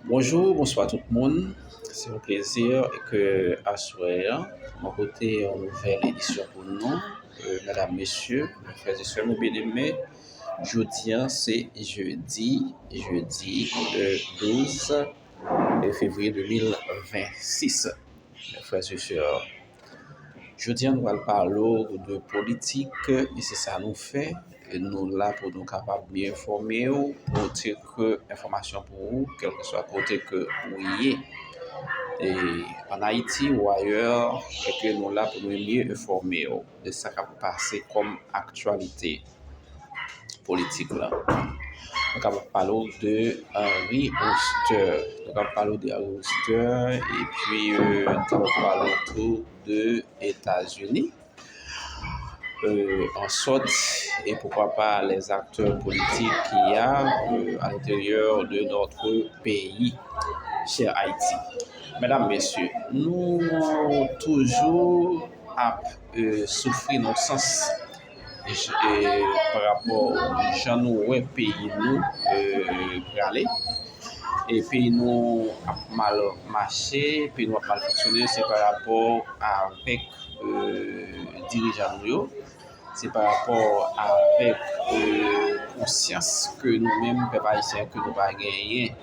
Bonjou, bonswa tout moun. Se yon plezi ke aswè an mwen pote yon nouvèl edisyon pou nou, medam, mesye, frè e sè nou byeneme. Jodi an se jedi, jedi 12 fevriye 2026, frè e sè. Jodi an nou pral pale w de politik e se sa nou fè. Nou la pou nou kapab byen enfòme w, pote ke enfòmasyon pou ou kèlkeswa kote ke ou ye. E an Ayiti ou ayè, e ke nou la pou nou byen enfòme w de sa k ap pase kòm aktyalite. politik la. Nou ka pale ou de Henri Oster. Nou ka pale ou de Henri Oster. E pi nou ka pale ou tou de Etazini. An sòt, e poukwa pa les acteurs politiques ki ya a l'interieur de notre peyi, chè Haïti. Mèdam, mèsyè, nou toujou ap soufri nan sans. pa rapò jan nou wè peyi nou prale, e peyi nou ap mal mache, peyi nou ap mal fonksyone, se pa rapò avèk dirijan nou yo, se pa rapò avèk konsyans ke nou menm pèp ayisyen ke nou pa genyen.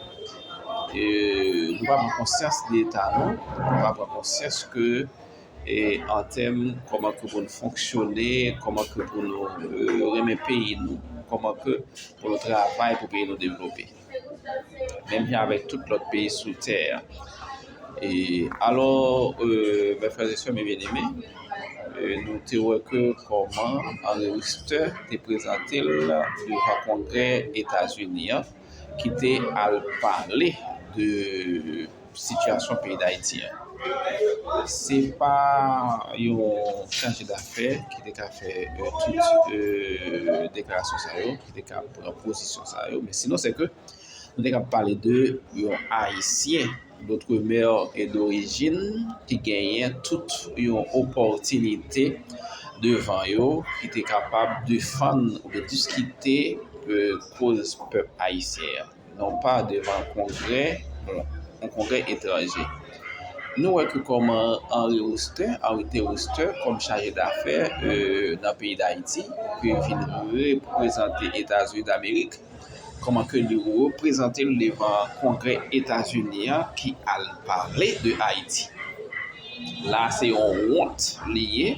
Nou pa pran konsyans de eta nou, nou pa pran konsyans ke e an tèm kòman ke pou nou fonksyone, kòman ke pou nou renmen peyi nou, kòman ke pou nou travay pou peyi nou devlope. Menm jan avèk tout lòt peyi sou tè a. E alò, mè frè zè sè mè byen eme, nou te wè ke kòman Anri Wistè te prezante l devan kongrè Etazini an ki te al pale de sitiyasyon peyi Dayiti an. Se pa yon chaje dafè ki te ka fè tout deklarasyon sa yo, ki te ka pran pozisyon sa yo, men sinon se ke nou te ka pale de yon Ayisyen dotremè e dorijin ki genyen tout yon opòtinite devan yo ki te kapab defann ou de diskite koz pèp Ayisyen an. non pa devan kongrè yon kongrè etranje. Nou wè ki kòman Henri Roustè, Henri T. Roustè, kòm chaje dafè nan peyi Dayiti, ki vin reprezante Etazini Damerik, kòman ke li reprezante l devan kongrè Etazini an ki al pale de Ayiti. La se yon wont li ye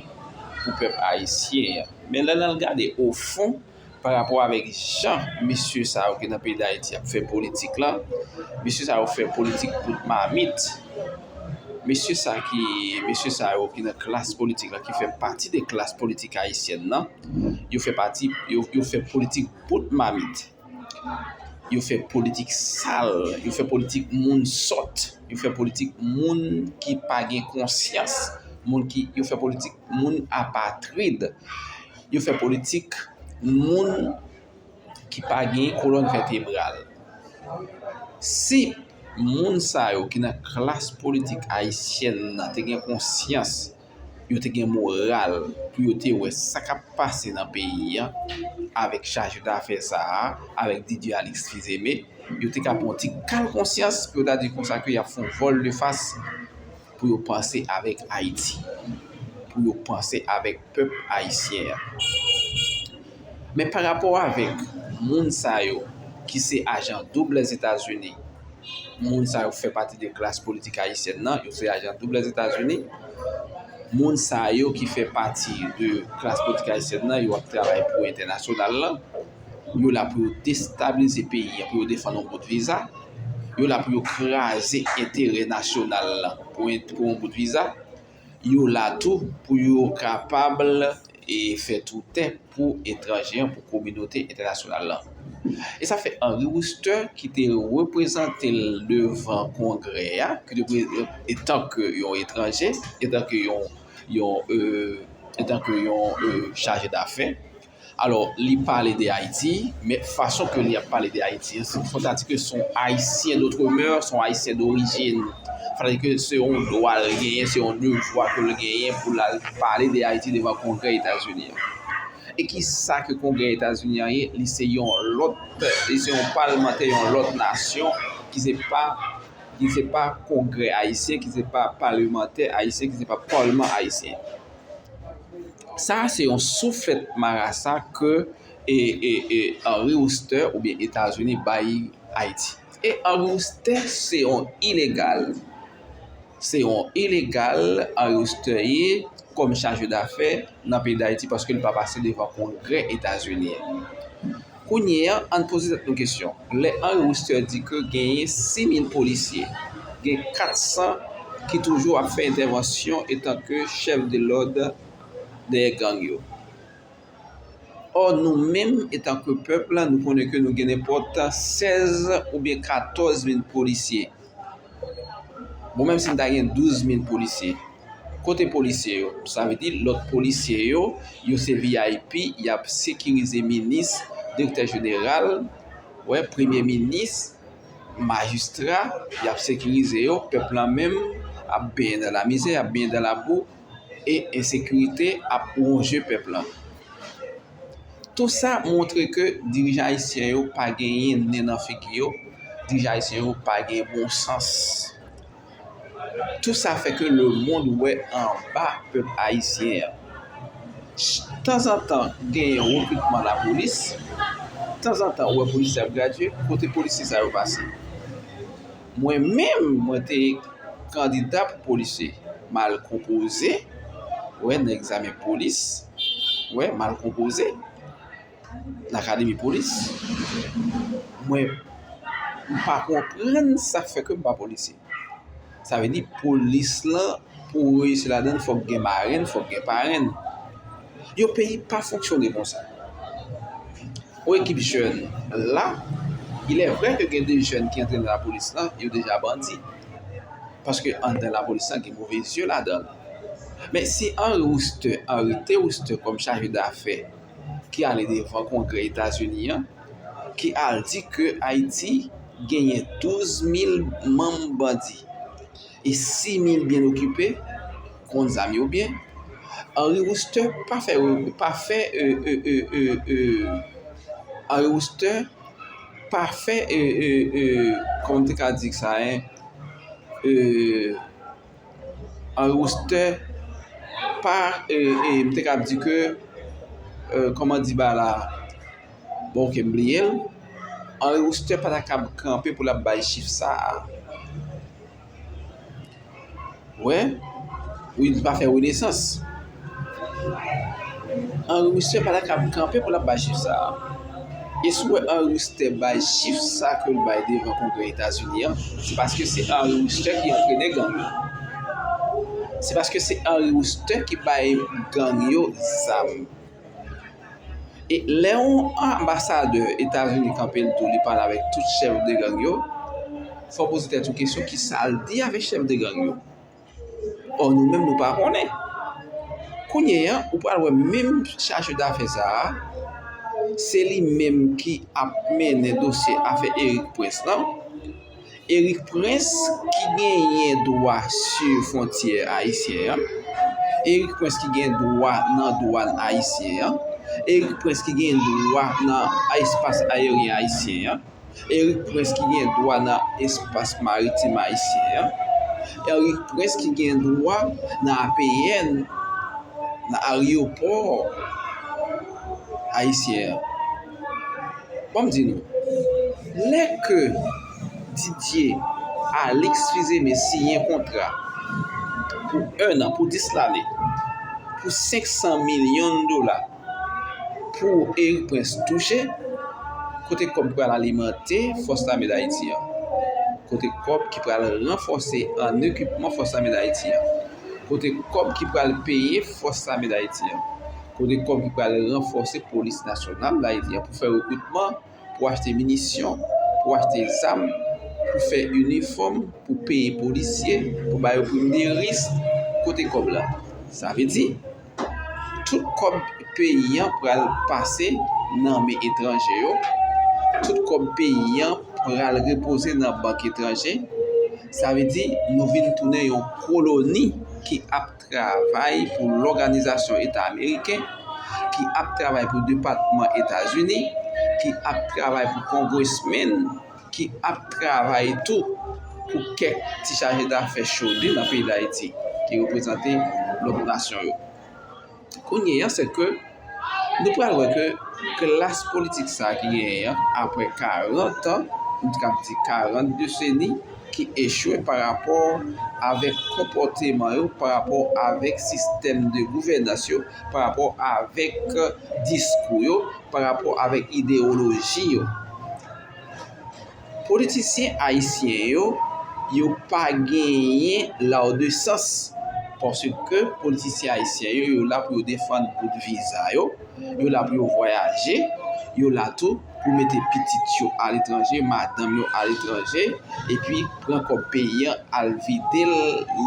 pou pèp ayisyen an. Men lè n al gade ofon, pa rapò avèk jan mesye sa yo ki nan peyi Dayiti ap fè politik la. Mesye sa yo fè politik bout mamit. Mesye sa ki, mesye sa yo ki nan klas politik la, ki fè pati de klas politik ayisyèn nan, yo fè pati, yo fè politik bout mamit. Yo fè politik sal, yo fè politik moun sòt, yo fè politik moun ki pa gen konsyans, moun ki, yo fè politik moun apatrid. Yo fè politik moun ki pa gen kolòn vètebral. Si moun sa yo ki nan klas politik ayisyèn nan te gen konsyans, yo te gen moral pou yo te wè sa k ap pase nan peyi an avèk chajidafè sa a, avèk Didier Alix Fils-Aimé, yo te ka pran yon ti kal konsyans pou yo ta di konsa ke y ap fè yon vòlde fas. pou yo panse avèk Ayiti, pou yo panse avèk pèp ayisyen an. Men pa rapò avèk moun sa yo ki se ajan doub Lèzetazini, moun sa yo fè pati de klas politik ayisyèn nan, yo se ajan doub Lèzetazini, moun sa yo ki fè pati de klas politik ayisyèn nan, yo ap travay pou entènasyonal lan, yo la pou yo destabilize peyi an, pou yo defann yon bout viza. yo la pou yo kraze enterè nasyonal la pou yon bout viza, yo la tou pou yo kapab e fè tou tè pou etranje an, pou kominote entènasyonal la. E sa fè Henry Wooster ki te reprezante l devan kongrè a, ki te etan ke yon etranje, etan ke yon chaje dafè, Alò, li pale de Ayiti, men fason ke li ap pale de Ayiti an, fò ta di ke son Ayisyen dotremè, son Ayisyen dorijin. Fò ta di ke se yon dwa l genyen, se yon devwa ke l genyen pou l al pale de Ayiti devan Kongrè Etazini an. E ki sa ke Kongrè Etazini an ye? Li se yon lòt, li se yon palmantè yon lòt nasyon ki se pa, ki se pa Kongrè Ayisyen, ki se pa palemantè Ayisyen, ki se pa palman Ayisyen. Sa a se yon souflèt marasa ke Henry Wooster oubyen Etazini bay Ayiti. E Henry Wooster se yon ilegal. Se yon ilegal Henry Wooster ye kòm chaje dafè nan peyi Dayiti paske li pa pase devan kongrè Etazini. Kounye a, ann poze tèt nou kesyon, lè Henri Wooster di ke genyen 6,000 polisye, gen 400 ki toujou ap fè entèvansyon etanke chèf de lòd dèyè gang yo. Ò, nou menm etanke pèp, nou konnen ke nou gen nenpòt 16 oubyen 14 mil polisye. Bon menm si n ta gen 12 mil polisye, kote polisye yo? Sa vle di lòt polisye yo, yo se vip, y ap sekirize minis, direktè jeneral, wè, premye minis, majistra, y ap sekirize yo, pèp la menm ap benyen nan lamizè, ap benyen nan labou, e ensekirite ap wonje pèp la. Tou sa montre ke dirijan ayisyen yo pa genyen nen nan figi yo, dirijan ayisyen yo pa gen bon sans. Tou sa fè ke le mond wè anba pèp ayisyen an. Tanzantan genyen rekritman la polis, tanzantan ou wè polisye ap gradye, kote polisye sa yo pase? Mwen menm mwen te kandida pou polisye. M al konpoze nan egzamen polis. M al konpoze nan akademi polis. Mwen pa konprann sa k fè ke m pa polisye. Sa vle di polis lan pou ou reyisi ladann fòk gen marenn, fòk gen parenn. Yon peyi pa fonksyone konsa. Pou ekip jèn la, ilè vrè ke gen de jèn ki antre nan lapolis la, yo deja bandi. Paske anndan lapolis la gen move zye ladan. Men si Henri Wooster arete Wooster kòm chaje dafè ki ale devan kongrè Etazini an, ki al di ke Ayiti genyen 12 mil manm bandi. E si Mil byen okipe, konn zam yo byen, Henri Wooster pa fè pa fè e e e e e Henri Wooster pa fè e e e kòman m te ka di sa e e Henri Wooster pa e e m te kab di ke e kòman di ba la bon ok m bliye l Henri Wooster pa ta kab kanpe pou l ap bay chif sa a. Wè Wi li pa fè renesans Anri mistè pa ta ka ap kanpe pou l ap bay chif sa a E si w wè Anri mistè bay chif sa a ke l bay devan kongrè etazini an se paske se Anri mistè ki antrene gang yo Se paske se Anri mistè ki bay gang yo zam E lè yon anbasadè Etazini kanpe l tou li pale avèk tout chèf de gang yo, fò w poze tèt ou kesyon ki sa l di avèk chèf de gang yo? Ò nou menm nou pa konnen. Kounye an, ou pral wè menm chaje dafè sa a, se li menm ki ap mennen dosye afè Erik Prince lan. Erick Prince ki genyen dwa su fontyè ayisyen an, Erick Prince ki gen dwa nan dwan ayisyen an, Erick Prince ki gen dwa nan espas ayeryen ayisyen an, Erick Prince ki gen dwa nan espas maritim ayisyen an, Erick Prince ki gen dwa nan APN, nan aryopò ayisyen an. Bon m di nou, lè ke Didier Alix Fils-Aimé siyen kontra pou 1 nan, pou 10 lane, pou 500 milyon dola pou Erik Prince touche, kote kòb ki pral alimante Fòs Lame Dayiti an? Kote kòb ki pral ranfòse an ekipman Fòs Lame Dayiti an? Kote kòb ki pral peye Fòs Lame Dayiti an? Kote kòb ki pral ranfòse polis nasyonal la, epi pou fè rekritman, pou achte minisyon, pou achte zam, pou fè inifòm, pou peye polisye, pou ba yo prim de risk, kote kòb la? Sa vle di, tout kòb peyi an pral pase nan men etranje yo, tout kòb peyi an pral repoze nan bank etranje, sa vle di nou vin tounen yon koloni ki ap. travay pou lòganizasyon eta ameriken, ki ap travay pou depatman Etazini, ki ap travay pou kongresmen, ki ap travay tou pou kèk ti chaje dafè chode nan peyi Dayiti, ki reprezante lòt nasyon yo. Kounyeya, sèke. nou pral wè ke klas politik sa ki genyen an, apre 40 an, m t kab di 40 deseni, ki echwe pa rapò avèk konpòteman yo, pa rapò avèk sistèm de gouvènans yo, pa rapò avèk diskou yo, pa rapò avèk idewoloji yo. Politisyen ayisyen yo, yo pa genyen laude sans paske politisyen ayisyen yo, yo la pou yo defann bout viza yo, yo la pou yo vwayaje, yo la tou pou mete pitit yo aletranje, madanm yo aletranje, epi pran kòb peyi an al vide l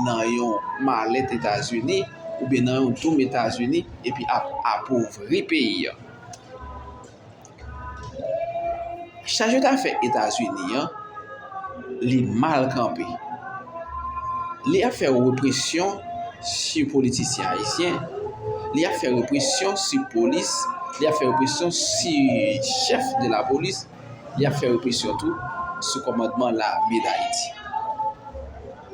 nan yon malèt Etazini oubyen nan yon doum Etazini epi ap apovri peyi an. Chaje dafè Etazini an li mal kanpe. Li ap fè represyon si politisyen ayisyen, li ap fè represyon si polis, li ap fè represyon si chèf de la polis, li ap fè represyon tou sou kòmandman lame dayiti.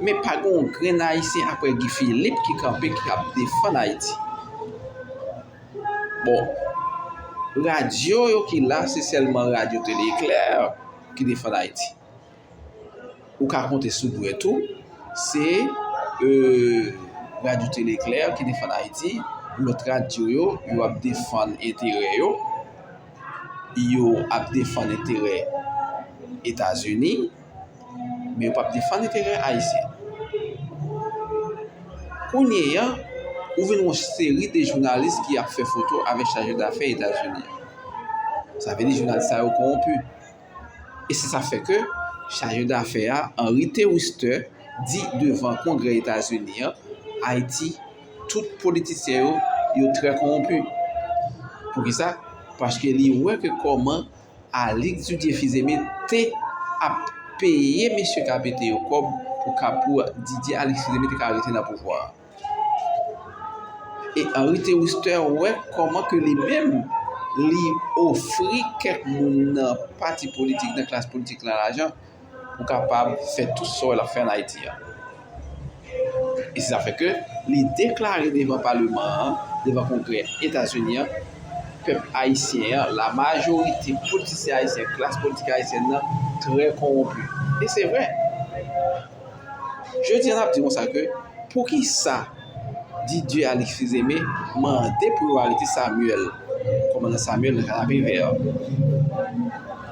Men pa gen yon grenn ayisyen apre Guy Philippe ki kanpe ki ap defann Ayiti. Bon, radyo yo ki la, se sèlman radyo tele eklè ki defann Ayiti. Ou ka konte sou dwèt ou, se radyo tele eklè ki defann Ayiti, lòt radyo yo, yo ap defann enterè yo, yo ap defann enterè Etazini. Men yo pap defann enterè Ayisyen. Kounyeya, ou vin yon seri de jounalis ki ap fè foto avèk chaje dafè Etazini an. Sa vle di jounalis sa yo kowonpi. E se sa fè ke chaje dafè a, Henry Thewister, di devan Kongrè Etazini an, Ayiti, tout politisyen yo, yo trè kowonpi. Poukisa? Paske li wè ke kòman Alix Didier Fils-Aimé te ap peye mesye k a pete yo kòb pou kapou a, Didier Alix Fils-Aimé te ka rete nan pouvwa a. E Henri Théouster wè kòman ke li menm li ofri kèk moun nan pati politik, nan klas politik la lajan pou kapab fè tout sa wè lap fè an Ayiti a. E se sa fè ke li deklare devan paleman an, devan kongrè Etazini an, pèp ayisyen an, la majorite politisyen ayisyen, klas politik ayisyèn nan trè konwonpi. E se vre. Jodi a nap di konsa ke, poukisa? di Dieu Alix Fils-Aimé mande pou yo arete Samuel, komandan Samuel nan Kanapevè.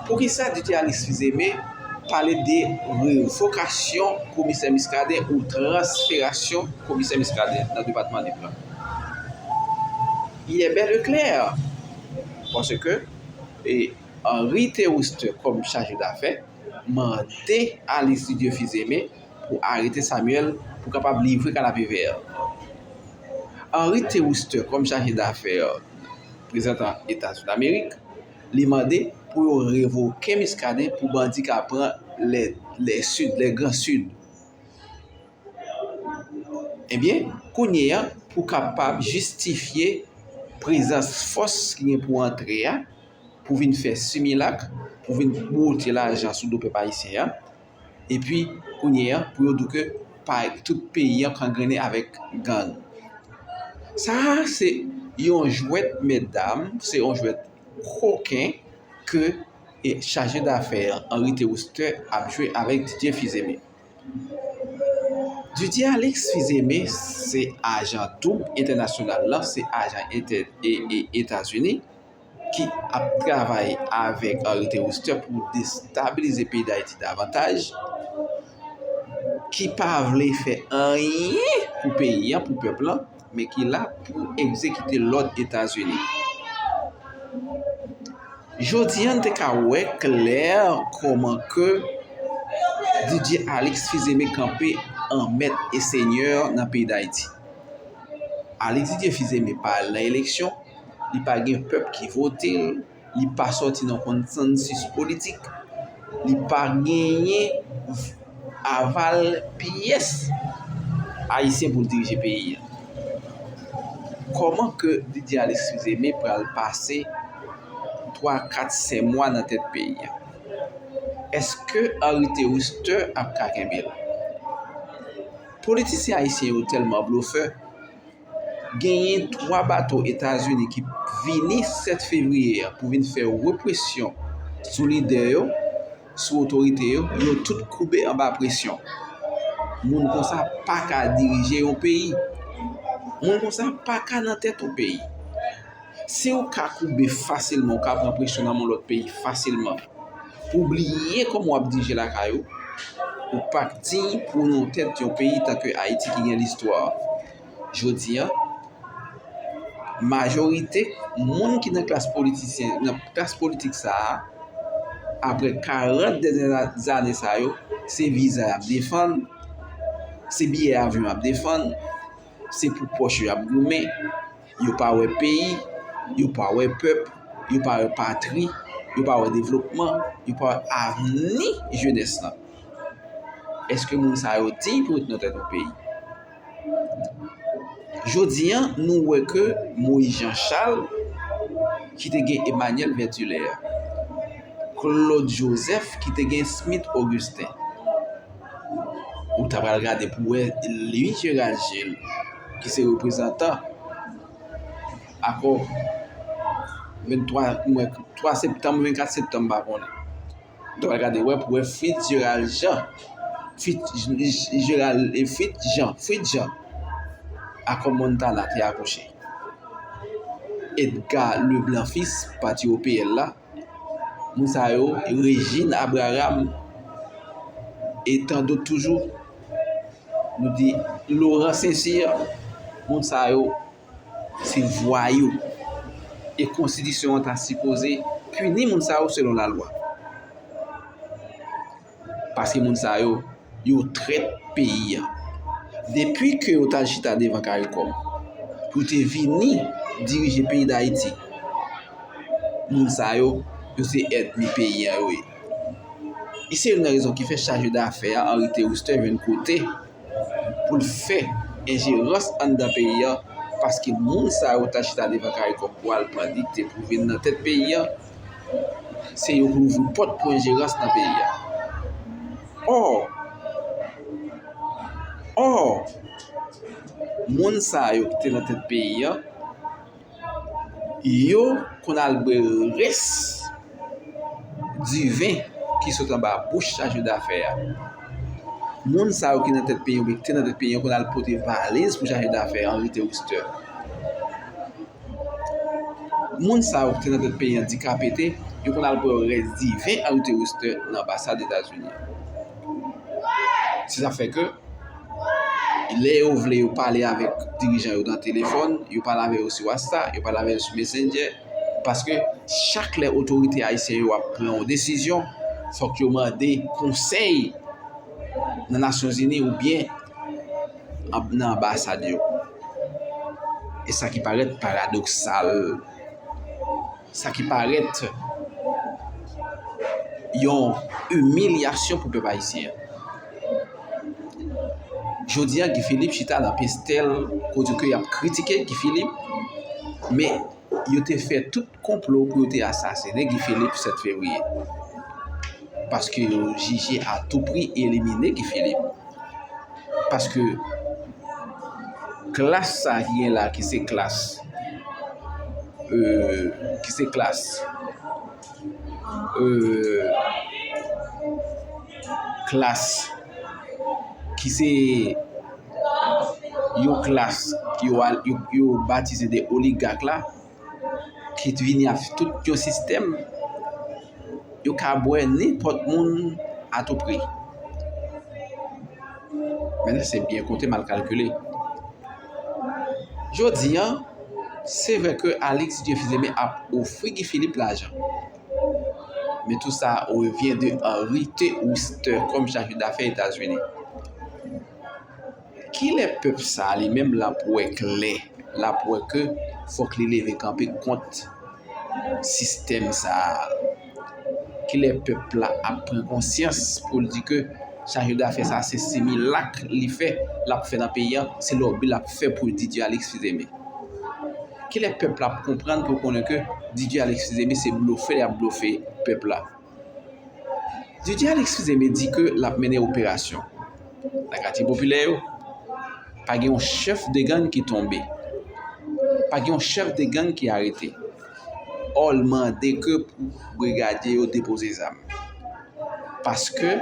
Poukisa di Dieu Alix Fils-Aimé pale de revokasyon komisè Muscadin ou transferasyon komisè Muscadin nan depatman Nip lan? Il est bel et clair, panse ke Henri Théouste kòm chaje dafè mande Alix Didier Fils-Aimé pou arete Samuel pou kapab livre kanapevè. Henry T. Wooster kòm chaje dafè reprezantan Eta Zuni Amerik, li mande pou yo revoke Muscadin pou bandi ka pran lè Sid, lè gran Sid. Ebyen, kounye a pou kapab jistifye prezans fòs ki gen pou antre a, pou vin fè similak, pou vin bwote lajan sou do pèp ayisyen an, Epi kounye an pou yo di ke pa tout peyi an kangrene avèk gang. Sa a se yon jwèt mètdam, se yon jwèt koken ke chaje dafè an, Henri Théosther ap jwe avèk Didier Fils-Aimé. Didier Alix Fils-Aimé se ajan doub entènasyonal la, se ajan Etazini. ki ap travay avèk Henri Théostert pou destabilize peyi Dayiti davantaj, ki pa vle fè anyen pou peyi an, pou pèp lan, men ki la pou egzekite lòd Etazini. Jodi an n te ka wè klè kòman ke Didier Alix Fils Aimé kanpe an mèt e senyè nan peyi Dayiti. Alix Didier Fils Aimé pa al nan eleksyon, li pa gen pèp ki vote l, li pa sòti nan konsansis politik, li pa genyen aval pyès Ayisyen pou l dirije peyi a. Kòman ke Didier Alexis Aimé pral pase 3, 4, 5 mwa nan tèt peyi a? Eske Henri Théouste ap ka kenbe l? Politisyen Ayisyen yo tèlman blofè, Genyen 3 bato Etazini ki vini 7 fevriye a pou vin fè represyon sou lidè yo, sou otorite yo, yo tout koube anba presyon. Moun konsa pa ka dirije yon peyi. Moun konsa pa ka nan tèt yon peyi. Si ou ka koube fasilman, ou ka pran presyon nan moun lòt peyi fasilman. Ou bliye kòman w ap dirije lakay ou, ou pa k diy pou w nan tèt yon peyi tankou Ayiti ki gen listwa. Jodi a, majorite moun ki nan klas politisyen, nan klas politik sa a, apre 40 dènye zane sa yo, se viza y ap defann, se biyè avyon y ap defann, se pou pòch yo y ap goumen. Yo pa wè peyi, yo pa wè pèp, yo pa wè patri, yo pa wè devlopman, yo pa wè avni jenès la. Eske moun sa yo diy pou ret nan tèt yon peyi? Jodi an, nou wè ke Moïse Jean Charles, ki te gen Emmanuel Vertulaire, Claude Joseph, ki te gen Smith Augustin, Ou ta pral gade pou wè li Gérald Gilles ki se reprezantan akò 23 septanm, 24 septanm m pa konnen. Ou ta pral gade wè pou wè Fritz Gérald Jean, Fritz Jean akò Montana te akouche. Edgar Leblanc fils pati OPL la. Moun sa yo, Regine Abraham e tan dot toujou. Nou di Laurent Saint-Cyr, moun sa yo se vwayou. E konstitisyon an ta sipoze pini moun sa yo selon lalwa. Paske moun sa yo, yo trèt peyi a. Depi ke yo tal chita devan karikom. Pou te vini dirije peyi dayiti. Moun sa yo, yo se èdmi peyi a yo ye. E se yon nan rezon ki fè chaje dafè a Henri Théristin jwenn kote pou l fè enjerans anndan peyi a. Paske moun sa yo tal chita devan karikom pou al pran dikte pou vin nan tèt peyi a. se yo pou ouvri pòt pou enjerans nan peyi a. Ò, ò, moun sa yo ki te nan tèt peyi a, yo konn al bwe rès diven ki sot anba bouch chaje dafè a. Moun sa yo ki nan tèt peyi a, ki te nan tèt peyi a, yo konn al pote valiz pou chaje dafè a, anvi te wistè. Moun sa yo ki te nan tèt peyi an di ka pete, yo konn al bwè rès diven Henri the Wooster nan anbasad Etazini an. Se sa k fè ke lè yo vle yo pale avèk dirijan yo nan telefòn, yo pale avè yo sou wasta, yo pale avè yo sou mesendjè, paske chak lè otorite ayisyen yo ap pran yon desizyon, fòk yo mande konsèy nan Nasyonzini oubyen nan anbasad yo. E sa ki parèt paradoksal, sa ki parèt yon imilyasyon pou pèp ayisyen. Jodi a Guy Philippe chita nan pastèl kote ke y ap kritike Guy Philippe, men. Yo te fè tout konplo pou yo te asasinen Guy Philippe 7 fevriye. Paske yo jije a tou pri elimine Guy Philippe. Paske klas sa ki gen la ki se klas euh, ki se klas euh, klas ki se... yon klas ki yo batize de oligak la, ki t vini ak tout yon sistèm, yo ka bwè nenpòt moun a tou pri. Men se byen konte mal kalkile. Jodi an, se vre ke Alix Dieuphileme ap ofri Guy Philippe lajan. Men tou sa revyen de an rite ou stè kòm chajou dafè Etazini. Kilè pèp sa a li menm l ap wè klè, l ap wè ke fòk li leve kanpe kont sistèm sa a? Kilè pèp la ap pran konsyans pou l di ke chaje dafè sa a se similak li fè, l ap fè nan peyi an, se lòbi l ap fè pou Didye Alèks Fizeme? Kilè pèp la ap konprann pou l konnen ke Didye Alèks Fizeme se blofè li ap blofe pèp la? DJ Alix Fizeme di ke l ap mennen operasyon nan katye popilè yo. Pa gen yon chèf de gang ki tonbe. Pa gen yon chèf de gang ki arete. Ò l mande ke pou brigadye yo depoze zam. Paske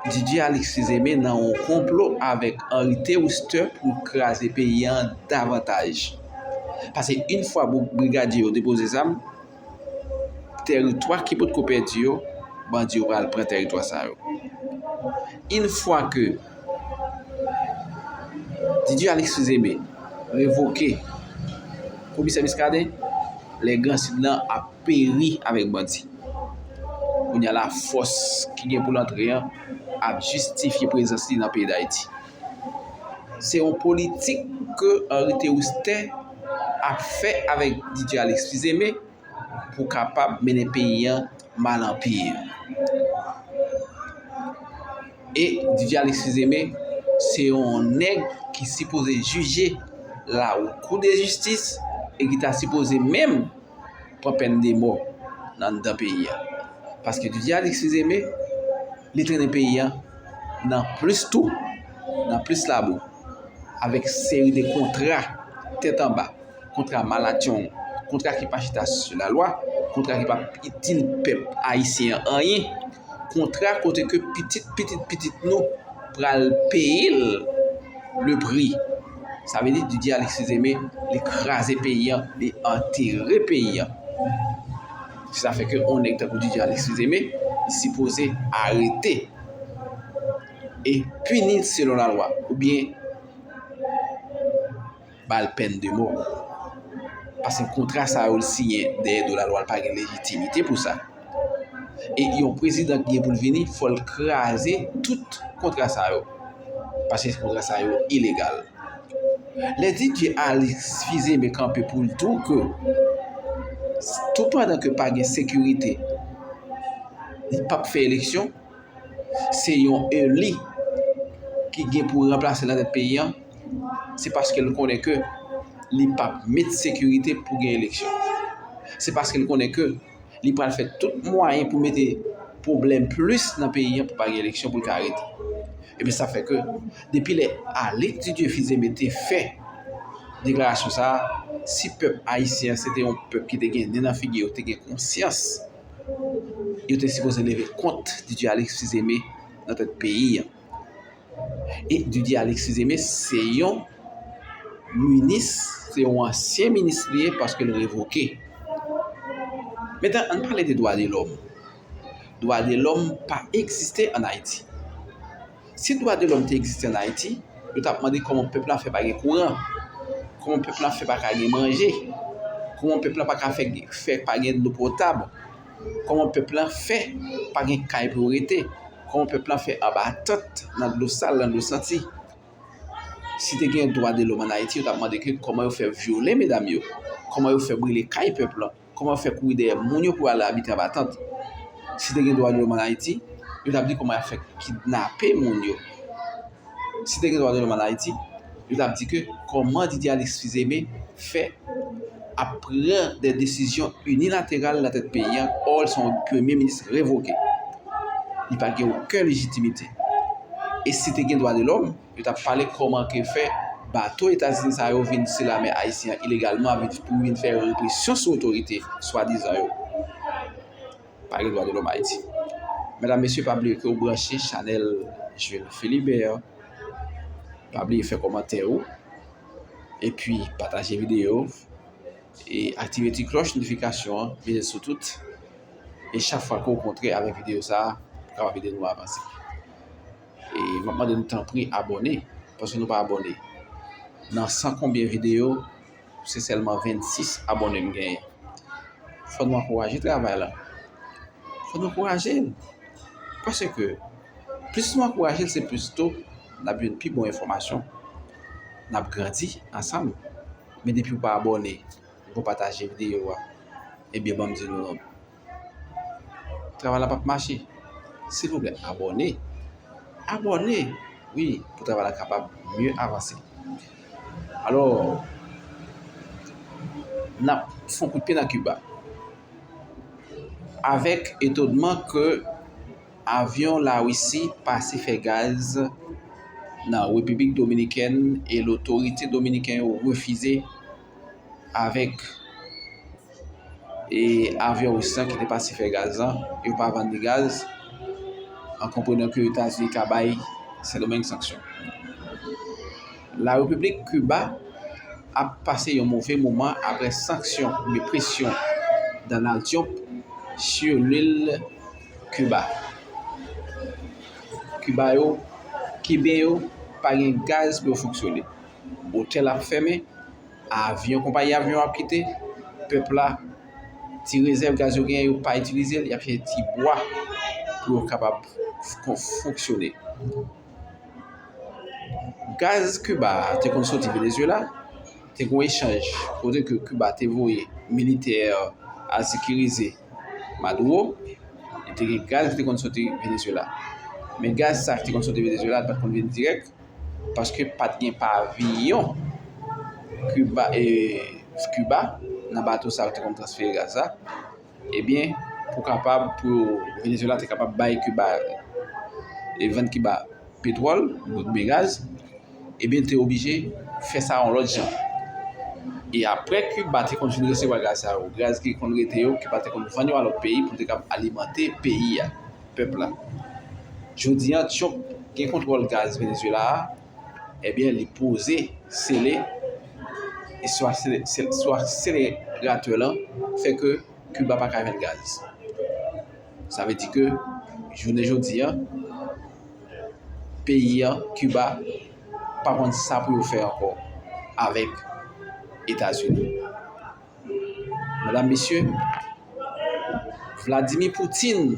DJ Alix Fizeme nan yon konplo avèk Henri Théouste pou kraze peyi an davantaj. Pase yon fwa brigadye yo depoze zam. teritwa ki potko pèdi yo, bandi yo pral pran teritwa sa yo. Yn fwa ke Didier Alexis Aimé revoke komisè Muscadin, lè gran sid lan ap peri avèk bandi. Kounya la fòs ki gen pou l antre an ap jistifye prezans li nan peyi Dayiti. Se yon politik ke Henri Théoustin ap fè avèk Didier Alexis Fils-Aimé pou kapab mennen peyi an mal an pi. E Didier Alexis Fils-Aimé se yon nèg ki sipoze jije la ou kou de jistis e ki ta sipoze menm pran pèn de mò nan dan peyi an. Paske Didier Alexis Fils-Aimé Li trennen peyi a nan plis tou, nan plis labou, avèk seri de kontra tèt anba, kontra malatchong, kontra ki pa chita sou la lwa, kontra ki pa itil pèp ayisyen an anyen, kontra kote ke pitit pitit pitit nou pral peye l le pri. Sa vle di Didier Alexis Aimé li kraze peyi an, li antere peyi an. Se sa fè ke on nèg tankou DJ Alexis Aimé sipoze arete e pini selon la lwa ou byen bal pèn de mò. Pase kontra sa yo li siyen dèyè do la lwa li pa gen lejitimite pou sa. E yon prezidan ki gen pou l vini fò l kraze tout kontra sa yo. Paske kontra sa yo ilegal. Lè DJ Alix Fils-Aimé kanpe pou l di w ke tout pandan ke pa gen sekirite li p ap fè eleksyon, se yon eli ki gen pou ranplase l nan tèt peyi an, se paske l konnen ke li p ap met sekirite pou gen eleksyon. Se paske l konnen ke. li pral fè tout mwayen pou mete pwoblèm plis nan peyi an pou pa gen eleksyon pou l ka rete. Ebyen sa fè ke depi lè Alix Didier Fils-Aimé te fè deklarasyon sa, si pèp ayisyen se te yon pèp ki te gen nen nan figi yo, te gen konsyans, yo te sipoze leve kont Didier Alix Fils-Aimé nan tèt peyi an. E Didier Alexis Aimé se yon minis, se yon ansyen minis li ye paske l revoke. Metan an pale de dwa de lòm. Dwa de lòm pa egziste an Ayiti. Si dwa de lòm te egziste an Ayiti, yo tap mande kòman pèp la fè pa gen kouran, kòman pèp la fè pa ka gen manje, kòman pèp la pa ka fè pa gen dlo potab. Kòman pèp la fè pa gen kay pou yo rete? Kòman pèp la fè anba tant, nan dlo sal, nan dlo santi? Si te gen dwa de lòm ann Ayiti, yo t ap mande ke kòman yo fè vyole medam yo? Kòman yo fè brile kay pèp la? Kòman yo fè kouri dèyè moun yo pou yo al abite anba tant? Si te gen dwa de lòm ann Ayiti, yo t ap di kòman y ap fè kidnape moun yo? si te gen dwa de lòm an Ayiti, yo t ap di ke kòman Didier Alexis Fils-Aimé fè ap pran dè desizyon inilateral nan tèt peyi an, ò l se yon premye minis revoke. Li pa gen oken lejitimite. E si te gen dwa de lòm, yo t ap pale kòman ke fè bato Etazini sa yo vin sou lame ayisyen an ilegalman pou vin fè represyon sou otorite swadizan yo. pa gen dwa de lòm Ayiti. Medam mesye pa bliye ke ou branche chanèl Jules Philibert. Pa bliye fè kòmantè ou. E pi pataje videyo. E aktive ti klòch notifikasyon an. Mete sou tout. E chak fwa ke ou kontre avèk videyo sa a, ou kapab ede nou avanse. E mwen mande nou tanpri abòne. Paske nou pa abòne. Nan san konbyen videyo. Se sèlman 26 abòne m genyen. Fòk nou ankouraje travay la. Fòk nou ankouraje l. Paske, plis nou ankouraje l, se plis tou n ap jwenn pi bon enfòmasyon. N ap grandi ansanm. Men depi ou pa abòne, ou pa pataje videyo a, ebyen ban m di nou, Travay la pap mache silvouplè abòne abòne wi pou travay la kapab mye avanse alò nap fon kout pye nan kiba avèk etodman ke avyon la wisi pase fè gaz nan repiblik dominikèn e lotorite dominiken yo refize avèk avyon Ris lan ki te pase fè gaz lan, yo pa vann li gaz, an konprenan ke Etazini ka bay Sendomeng sanksyon. La Repiblik Kiba ap pase yon move moman apre sanksyon oube presyon Donald Trump sou lil Kiba. Kiba yo, Kiben yo pa gen gaz pou yo fonksyone. otèl ap fèmen, avyon, konpayi avyon ap kite, pèp la, ti rezèv gaz yo genyen yo pa itilize l, y ap chèche ti bwa pou yo kapab fonksyone. Gaz Kiba a te konn soti Venezyela, te kon echanj, kote ke Kiba te voye militè al sekirize Maduro, e te gen gaz ki te konn soti Venezyela. Men gaz sa ki te konn soti Venezyela, l pa t konn vin dirèk, paske pa t gen paviyon Kiba nan bato sa yo te konn transfere gaz la, ebyen pou kapab pou Venezuela te kapab bay Kiba e vann Kiba petwòl oubyen gaz, ebyen te oblije fè sa yon lòt jan. E apre Kiba te konn fin resevwa gaz sa yo, gaz ki konn rete yo, Kiba te konn vann yo a lòt peyi pou te kapab alimante peyi a. pèp la. Jodi an Trump gen kontwòl gaz Venezuela a, ebyen li poze sele e swa swa sele ratè lan fè ke Kiba pa ka jwenn gaz. Sa vle di ke jounen jodi an peyi an Kiba pa konn sa pou yo fè ankò avèk Etazini. Medam mesye, Vladimir Putin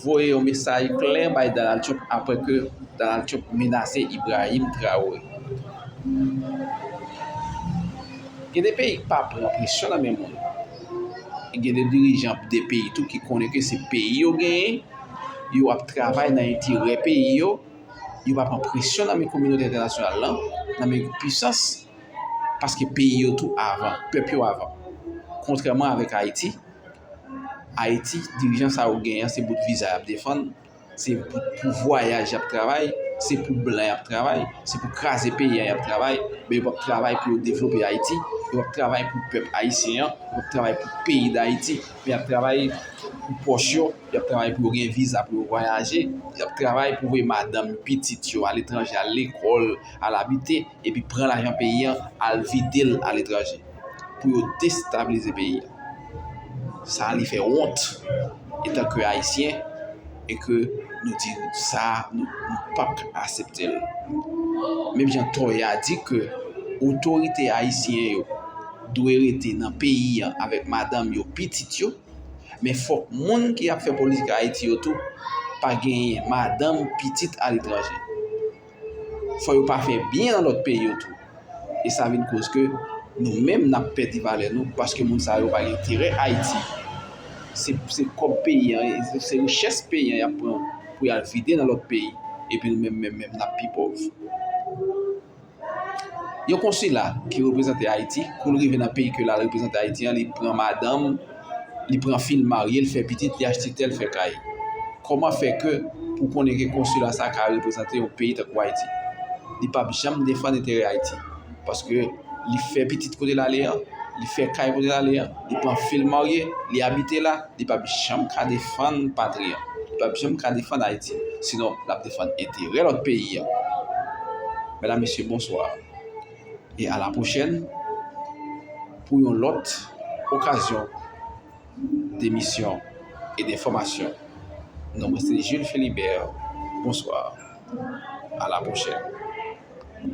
voye yon mesaj klè bay Donald Trump apre ke Donald Trump menase Ibrahim Traore. Gen de peyi ki pa pran presyon nan men moun. E gen de dirijan de peyi tou ki konnen ke se peyi yo genyen, yo ap travay nan enterè peyi yo, yo pa pran presyon nan men kominote entènasyonal lan, nan men pisans. Paske peyi yo tou avan, pèp yo avan. Kontrèman avèk Ayiti, Ayiti, dirijan sa yo genyen, se bout viza y ap defann, se pou vwayaj y ap travay, se pou blan y ap travay, se pou kraze peyi an y ap travay, men yo pa p travay pou yo devlope Ayiti, yo pa p travay pou pèp ayisyen an, yo pa p travay pou peyi Dayiti, men y ap travay pou pòch yo, y ap travay pou yo gen viza pou yo vwayaje, y ap travay pou voye madanm, pitit yo aletranje, al lekòl, al abite. epi pran lajan peyi an al vide l aletranje pou yo destabilize peyi a. Sa li fè wont etan ke Ayisyen e ke nou di sa nou pap asepte l. Menm jan Toya di ke otorite Ayisyen yo dwe rete nan peyi an avèk madanm yo, pitit yo, men fòk moun ki ap fè politik Ayiti yo tou pa genyen madanm, pitit aletranje. fò yo pa fè byen an lòt peyi yo tou. E sa vin koz ke nou menm n ap pèdi valè nou paske moun sa yo pa gen enterè Ayiti. Se kòb peyi an, se richès peyi an y ap pran pou y al vide nan lòt peyi epi nou menm menm menm n ap pi pòv. Yon konsila ki reprezante Ayiti, kou l rive nan peyi ke l al reprezante Ayiti an, li pran madanm. li pran fil marye l fè pitit li achte tè l fè kay kòman fè ke pou konnen ke konsila sa ka reprezante yon peyi tankou ayiti li pap janm defann enterè ayiti paske li fè pitit kote l ale an li fè kay kote l ale an li pran fil marye li abite la li pap janm ka defann patri an li pap janm ka defann ayiti sinon l ap defann enterè lòt peyi an mèdam mesye bonswa e a la pwochèn pou yon lòt okazyon demisyon e de fòmasyon. Non mwen se Jules Philibert. Bonswa. A la pwochèn.